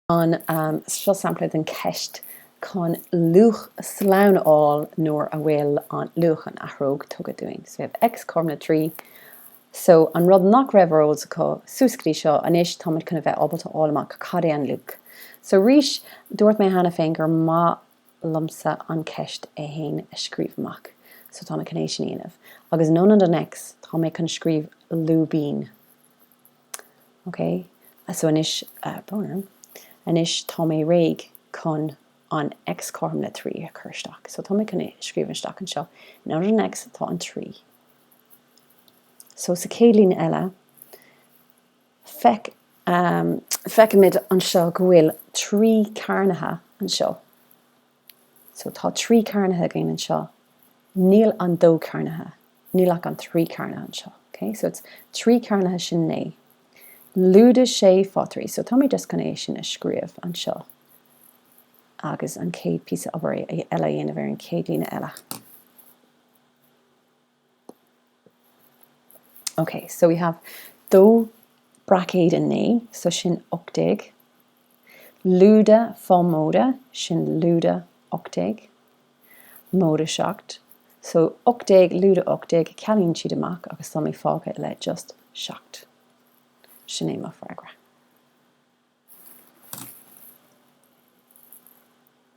Anseo sampla den cheist chun luach slán a fháil nuair a bhfuil an luach an athróg tugtha dúinn. So we have x cothrom le 3. So an rud nach raibh ar eolas acu suas go dtí seo, anois táimid chun a bheith ábalta a fháil amach cad é an luach. So arís dúirt mé cheana féin gur maith liomsa an cheist é fhéin a scríobh amach. So táim chun é sin a dhéanamh. Agus in ionad an x tá mé chun scríobh lúibín. Ok, so anois, boom, anois tá mé réidh chun an x cothrom le 3 a chur isteach. So tá mé chun é a scríobh isteach anseo. In áit an x tá an 3. So sa chéad líne eile, feic, feicimid anseo go bhfuil 3 cearnaithe anseo. So tá trí cearnaithe againn anseo, níl an dó cearnaithe, níl ach an trí cearnaithe anseo. Ok, so is trí cearnaithe sin naoi. Lúide sé fá trí. So tá mé just chun é sin a scríobh anseo agus an chéad píosa obair eile a dhéanamh ar an chéad líne eile. Ok, so we have dó braicéid a naoi, so sin ocht déag. Lúide fá móide, sin lúide ocht déag. Móide seacht. So ocht déag lúide ocht déag, cealaíonn siad amach agus tá mé fágtha le just seacht. Sin é mo freagra.